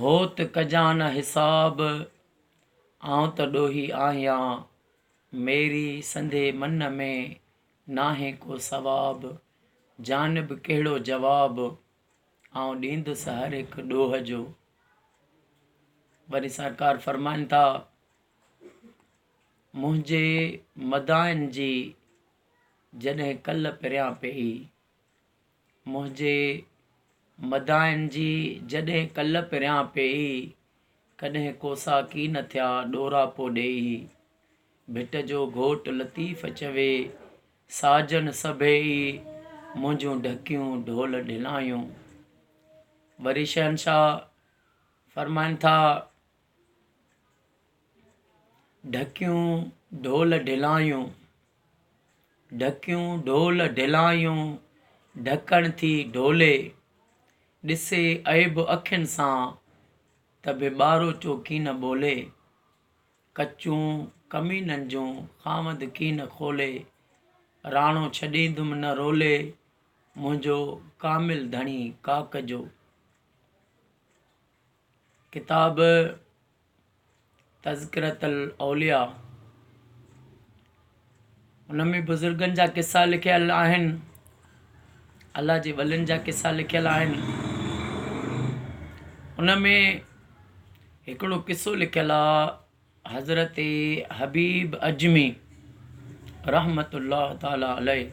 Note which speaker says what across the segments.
Speaker 1: هو ته ڪجان نه حساب، آئون ته ڏوهي آهيان، ميري سندي من ۾ ناهي ڪو ثواب، جان به ڪهڙو جواب، آئون ڏيندس هر هڪ ڏوهه جو. وري سرڪار فرمائن ٿا، منهنجي مداحن جي جڏهن ڪل پريان پئي، منهنجي مداحن جي جڏهن ڪل پريان پيئي، ڪڏهن ڪوسا ڪي نه ٿيا ڏوراپو ڏيئي. ڀٽ جو گهوٽ لطيف چوي، ساجن سڀيئي منهنجون ڍڪيون ڍول ڍلايون. وري شهنشاهه فرمائن ٿا، ڍڪيون ڍول ڍلايون. ڍڪيون ڍول ڍلايون ڍڪڻ ٿي ڍولي. ڏسي عيب اکين سان ته به ٻاروچو ڪين ٻولي. ڪچون ڪمينن جون خامد ڪين کولي. راڻو ڇڏيندم نه رولي منهنجو ڪامل ڌڻي ڪاڪ جو. ڪتاب تذڪرة الاولياء ان ۾ بزرگن جا قصا لکيل آهن الله جي ولين جا قصا لکيل آهن ان ۾ هڪڙو قصو لکيل آهي حضرت حبيب اجمي رحمت الله تعالٰي عليه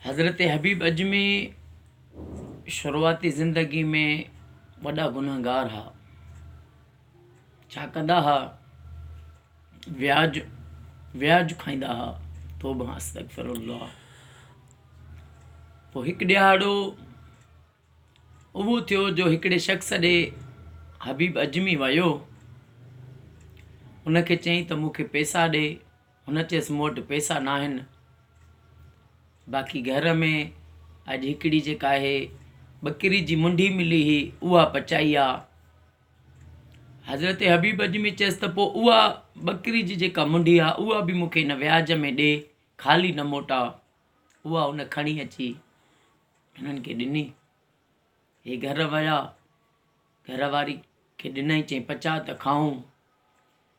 Speaker 1: حضرت حبيب اجمي شروعاتي زندگي ۾ وڏا گنهگار ها. ڇا ڪندا ها؟ وياج وياج کائيندا ها. توبه استغفر الله. پوء هڪ ڏهاڙو اهو ٿيو جو هڪڙي شخص ڏي حبيب اجمي ويو ان کي چيائين ته مون کي پيسا ڏي. هن چيس، مون وٽ پئسا ناهن، باقي گهر ۾ اڄ هڪڙي جيڪا آهي ٻڪري جي منڍي ملي هئي، اها پچائي آ. حضرت حبيب اجمي چيس ته پوء اها ٻڪري جي جيڪا منڍي آ، اها به مون کي هن وياج ۾ ڏي، خالي نه موٽاء. اها هن کڻي اچي هنن کي ڏني. هي گهر ويا، گهر واري کي ڏنائين، چيائين پچاء ته کائون.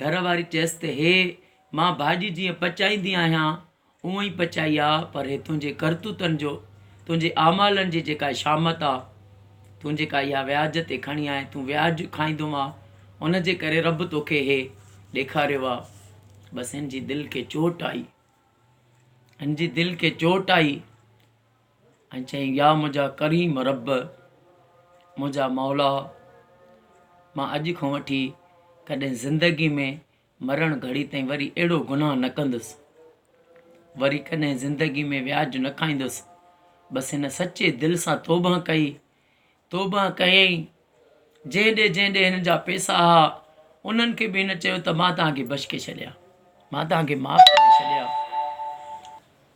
Speaker 1: گهر واري چيس ته هيء مان ڀاڄي جيئن پچائيندي آهيان، اونء ئي پچائي آ، پر هي تنهنجي ڪرتوتن جو، تنهنجي اعمالن جي جيڪا شامت آ، تون جيڪا اها وياج تي کڻي آئين، تون وياج کائيندو آ، ان جي ڪري رب توکي هيء ڏيکاريو آ. بس هن جي دل کي چوٽ آئي. هن جي دل کي چوٽ آئي. ۽ چيائين، يا منهنجا ڪريم رب، منهنجا مولا، مان اڄ کان وٺي ڪڏهن زندگي ۾ مرڻ گهڙي تائين وري اهڙو گناهه نه ڪندس، وري ڪڏهن زندگي ۾ وياج نه کائيندس، بس هن سچي دل سان توبهه ڪئي توبهه ڪيائين، جنهن ڏي جنهن ڏي هن جا پيسا ها، انهن کي به هن چيو ته مان توهان کي بشڪي ڇڏيا، مان توهان کي معاف ڪري ڇڏيا.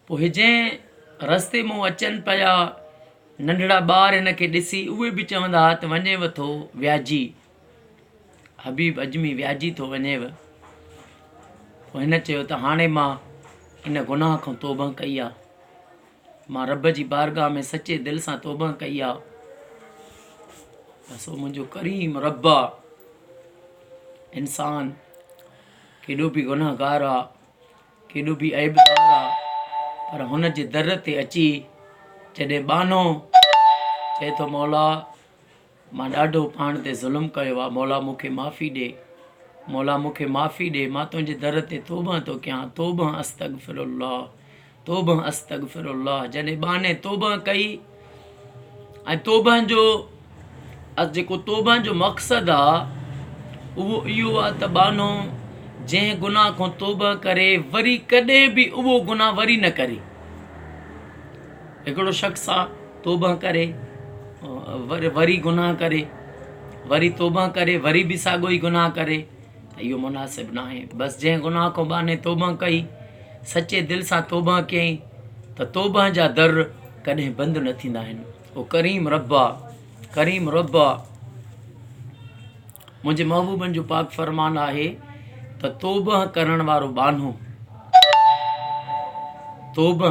Speaker 1: پوء جنهن رستي مون اچن پيا ننڍڙا ٻار هن کي ڏسي اهي به چوندا ها ته وڃيو ٿو وياجي، حبيب اجمي وياجي ٿو وڃيو. پوء هن چيو ته هاڻي مان ان گناهه کان توبهه ڪئي آ. مان رب جي بارگاھ ۾ سچي دل سان توبه ڪئي آ بس او منهنجو ڪريم رب آ انسان ڪيڏو به گناهگار آ ڪيڏو به عيبدار آ پر هن جي در تي اچي جڏهن ٻانهو چئي ٿو مولا مان ڏاڍو پاڻ تي ظلم ڪيو آ مولا مون کي معافي ڏي مولا مون کي معافي ڏي مان تنهنجي در تي توبه ٿو ڪيان توبه استغفر الله توبه استغفر الله جڏهن ٻانهي توبه ڪئي ۽ توبه جو جيڪو توبه جو مقصد آ اهو اهو آ ته ٻانهو جنهن گناهه کان توبه ڪري وري ڪڏهن به اهو گناهه وري نه ڪري هڪڙو شخص آ توبه ڪري وري گناھ ڪري وري توبه ڪري وري به ساڳو ئي گناھ ڪري ته اهو مناسب ناهي بس جنهن گناھ کان ٻانهي توبه ڪئي سچي دل سان توبه ڪيائين ته توبه جا در ڪڏهن بند نه ٿيندا آهن او ڪريم رب آ ڪريم رب آ منهنجي محبوبن جو پاڪ فرمان آهي ته توبه ڪرڻ وارو ٻانهو توبه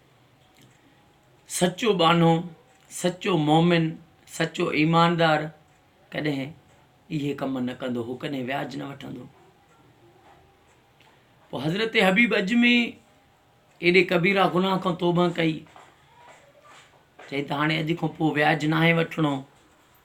Speaker 1: سچو ٻانهو، سچو مؤمن، سچو ايماندار ڪڏهن اهي ڪم نه ڪندو هو ڪڏهن وياج نه وٺندو هو. پوء حضرت حبيب اجمي ايڏي ڪبيرا گناهه کان توبه ڪئي چئي ته هاڻي اڄ کان پوء وياج ناهي وٺڻو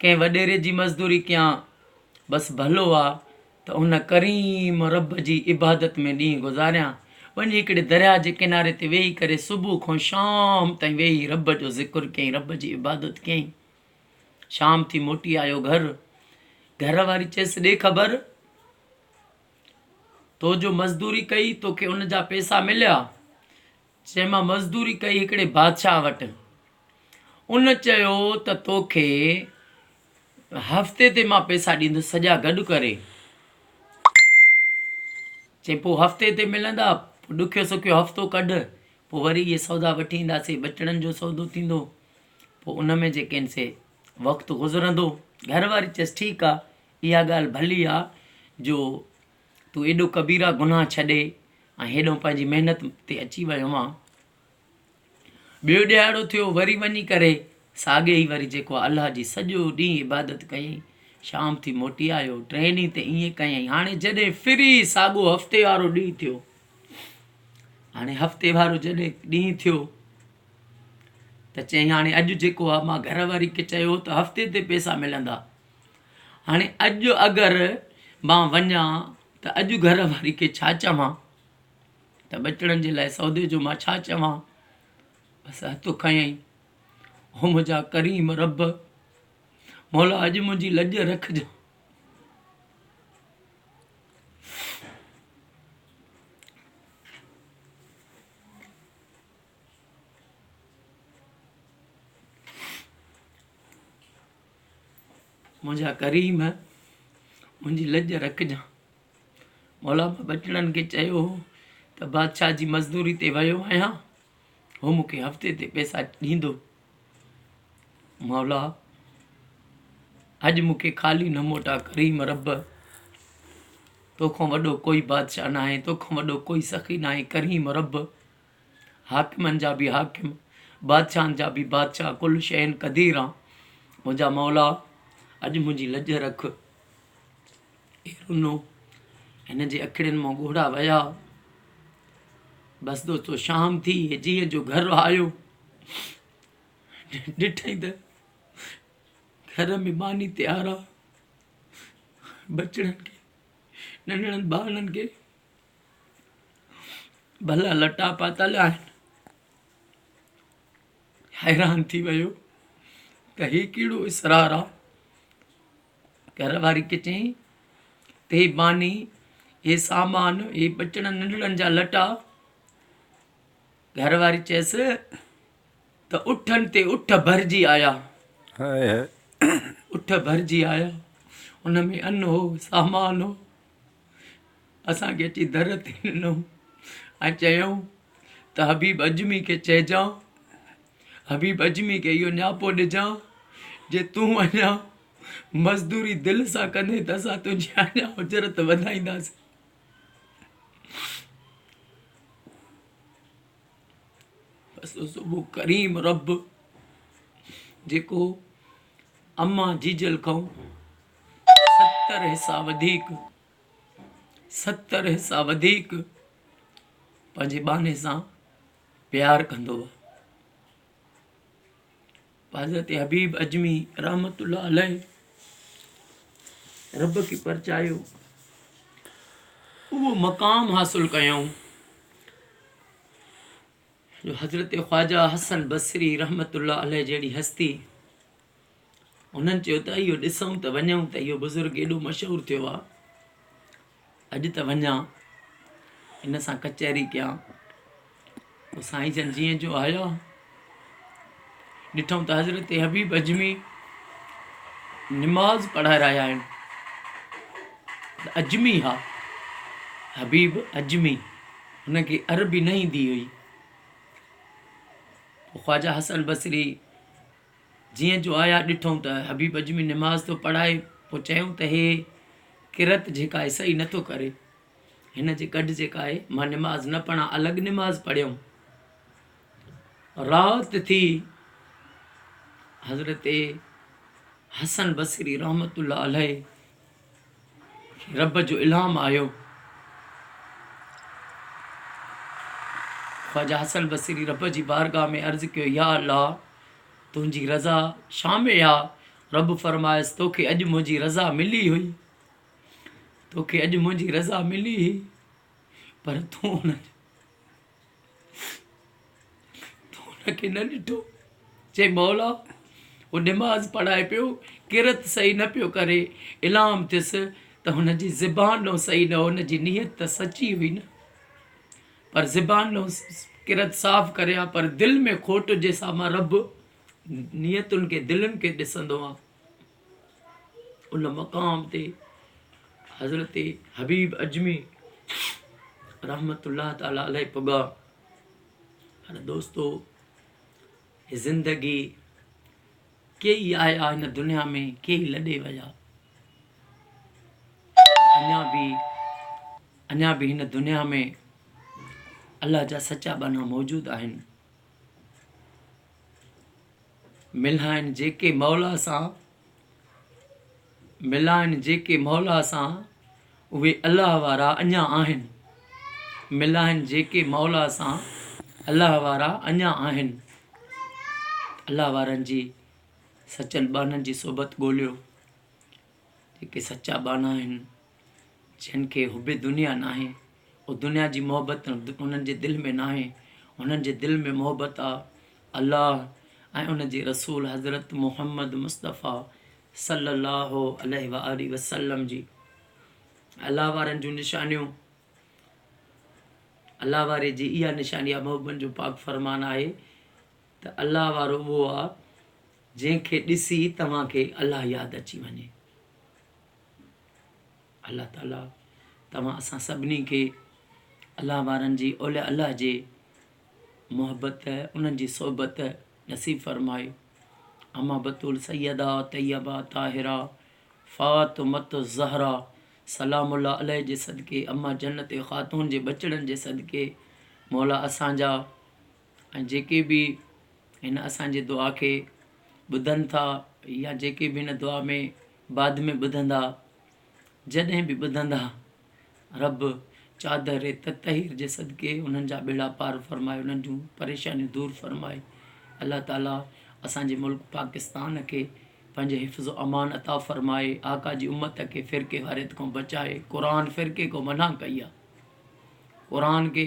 Speaker 1: ڪنهن وڏيري جي مزدوري ڪيان، بس ڀلو آ ته ان ڪريم رب جي عبادت ۾ ڏينهن گذاريان، وڃي هڪڙي درياهه جي ڪناري تي ويهي ڪري صبح کان شام تائين ويهي رب جو ذڪر ڪيائين، رب جي عبادت ڪيائين. شام ٿي موٽي آيو گهر، گهر واري چيس ڏي خبر تو جو مزدوري ڪئي توکي ان جا پيسا مليا؟ چيم مان مزدوري ڪئي هڪڙي بادشاهه وٽ. ان چيو ته توکي هفتي تي مان پئسا ڏيندس سڄا گڏ ڪري. چيم پوء هفتي تي ملندا، پوء ڏکيو سکيو هفتو ڪڍ، پوء وري اهي سودا وٺي اينداسين، ٻچڙن جو سودو ٿيندو، پوء ان ۾ جيڪين سي وقت گذرندو. گهر واري چيس ٺيڪ آ، اها ڳالهه ڀلي آ جو تون ايڏو ڪبيرا گناھ ڇڏي ۽ هيڏهون پنهنجي محنت تي اچي ويو آن. ٻيو ڏهاڙو ٿيو وري وڃي ڪري ساڳي ئي وري جيڪو آ الله جي سڄو ڏينهن عبادت ڪيئين شام ٿي موٽي آيو ٽئين ڏينهن تي ائين ڪيئين هاڻي جڏهن فري ساڳو هفتي وارو ڏينهن ٿيو هاڻي هفتي وارو جڏهن ڏينهن ٿيو ته چئين هاڻي اڄ جيڪو آ مان گهر واري کي چيو ته هفتي تي پيسا ملندا هاڻي اڄ اگر مان وڃان ته اڄ گهر واري کي ڇا چوان؟ ته ٻچڙن جي لاء سودي جو مان ڇا چوان؟ بس هٿ کنيائين، او منهنجا ڪريم رب! مولا اڄ منهنجي لڄ رکجان. منهنجا ڪريم منهنجي لڄ رکجان مولا مان ٻچڙن کي چيو هو ته بادشاهه جي مزدوري تي ويو آهيان هو مون کي هفتي تي پيسا ڏيندو مولا اڄ مون کي خالي نه موٽا ڪريم رب توکان وڏو ڪوئي بادشاهه ناهي توکان وڏو ڪوئي سخي ناهي ڪريم رب حاڪمن جا به حاڪم، بادشاهن جا به بادشاهه ڪل شيء قدير آن منهنجا مولا اڄ منهنجي لڄ رک. اي رنو هن جي اکڙين مان ڳوڙها وهيا. بس دوستو شام ٿي هي جيء جو گهر آيو ڏٺائين ته گهر ۾ ماني تيار آ بچڙن کي ننڍڙن ٻارڙن کي ڀلا لٽا پاتل آهن. حيران ٿي ويو ته هي ڪهڙو اسرار آ. گهر واري کي چيائين ته هي ماني هي سامان هي ٻچڙن ننڍڙن جا لٽا گهر واري چيس ته اٺن تي اٺ ڀرجي آيا اٺ ڀرجي آيا ان ۾ ان هو سامان هو اسان کي اچي در تي ڏنو ۽ چيائون ته حبيب عجمي کي چئجان حبيب عجمي کي اهو نياپو ڏجان جي تون اڃان مزدوري دل سان ڪندين ته اسان تنهنجي اڃان اجرت وڌائينداسين بس صبح ڪريم رب جيڪو امان جيجل کائون ستر حصا وڌيڪ ستر حصا وڌيڪ پنهنجي ٻانهي سان پيار ڪندو هو حضرت حبيب اجمي رحمت الله عليه رب کي پرچايو اهو مقام حاصل ڪيائون جو حضرت خواجہ حسن بصري رحمت الله عليه جهڙي هستي هنن چيو ته اهو ڏسون ته وڃون ته اهو بزرگ ايڏو مشهور ٿيو آهي اڄ ته وڃان ان سان ڪچهري ڪيان پوء سائين جن جيئن جو آيا ڏٺو ته حضرت حبيب اجمي نماز پڙهائي رهيا آهن اجمي ها حبيب اجمي هن کي عربي نه ايندي هئي خواجا حسن بصري جيئن جو آيا ڏٺئون ته حبيب اجمي نماز ٿو پڙهائي پوء چيائون ته هي قرت جيڪا آهي صحيح نه ٿو ڪري هن جي گڏ جيڪا آهي مان نماز نه پڙهان الڳ نماز پڙهيم رات ٿي حضرت حسن بصري رحمت الله عليه رب جو الھام آيو. خواجه حسن بصري رب جي بارگاھ ۾ عرض ڪيو، يا الله! تنھنجي رضا شا ۾ آ؟ رب فرمايس، توکي اڄ منھنجي رضا ملي ھئي. توکي اڄ منھنجي رضا ملي ھئي، پر تون ان جو. تو ان کي نه ڏٺو؟ چيائين مولا! هو نماز پڙهائي پيو، قرت صحيح نه پيو ڪري، الهام ٿيس ته هن جي زبان ڏانهن صحيح نه هو، هن جي نيت ته سچي هئي نه، پر زبان ڏانهن قرت صاف ڪري ها، پر دل ۾ کوٽ جي سامان رب نيتن کي، دلن کي ڏسندو آهي. ان مقام تي حضرت حبيب اجمي رحمت الله تعالٰي عليه پڳا پر دوستو زندگي ڪي ئي آيا هن دنيا ۾ ڪي ئي لڏي ويا اڃا به اڃا به هن دنيا ۾ الله جا سچا ٻانها موجود آهن ملائن جيڪي مولا سان، ملائن جيڪي مولا سان، اهي الله وارا اڃا آهن، ملائن جيڪي مولا سان، الله وارا اڃا آهن، الله وارن جي سچل ٻانهن جي صحبت ڳوليو. جيڪي سچا ٻانها آهن، جن کي حب دنيا ناهي، او دنيا جي محبت انهن جي دل ۾ ناهي، انهن جي دل ۾ محبت آ الله ۽ ان جي رسول حضرت محمد مصطفيٰ صلّي الله عليه واٰله وسلّم جي. الله وارن جون نشانيون، الله واري جي اها نشاني آ، محبوبن جو پاڪ فرمان آهي ته الله وارو اهو آ، جنهن کي ڏسي توهان کي الله ياد اچي وڃي. الله تعالي توهان اسان سڀني کي الله وارن جي اولياء الله جي محبت انهن جي صحبت نصيب فرمائي اما بتول سيده طيبه طاهره فاطمة الزهرا سلام الله عليه جي صدقي اما جنت خاتون جي ٻچڙن جي صدقي مولا اسان جا ۽ جيڪي به هن اسان جي دعا کي ٻڌن ٿا يا جيڪي به هن دعا ۾ بعد ۾ ٻڌندا جڏهن به ٻڌندا رب چادر تطهير جي صدقي انهن جا ٻيڙا پار فرمائي انهن جون پريشانيون دور فرمائي الله تعالي اسان جي ملڪ پاڪستان کي پنهنجي حفظ و امان عطا فرمائي آقا جي امت کي فرقي واريت کان بچائي قرآن فرقي کان منع ڪئي آهي قرآن کي